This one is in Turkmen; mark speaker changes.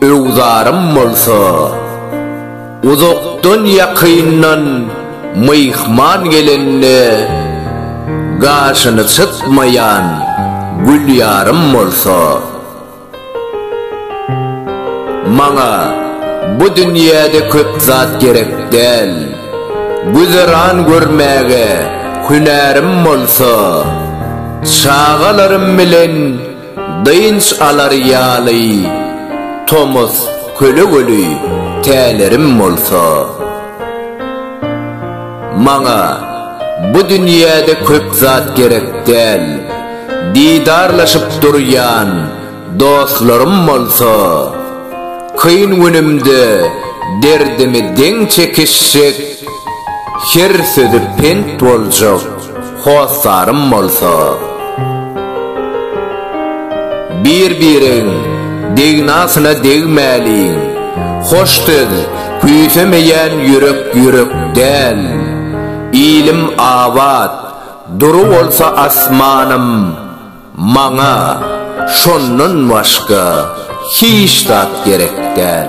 Speaker 1: Öwzarym bolsa, uzakdan-ýakyndan myhman gelende gaşyny çytmaýan Gülýarym bolsa, Maňa bu dünýäde köp zat gerek däl, güzeran görmäge hünärim bolsa, çagalarym bilen Dynç alar ýaly tomus kölegeli tälerim bolsa, maňa bu dünýäde köp zat gerek däl, didarlaşyp durýan dostlarym bolsa, kyn günümde derdimi deň çekişjek, her sözi pent boljak. Hossarym bolsa, Bir-biregiň degnasyna degmäliň, Hoş söz küýsemeýän ýürek ýürek däl. Ilim abat, dury bolsa asmanym, Maňa şondan başga hiç zat gerek däl.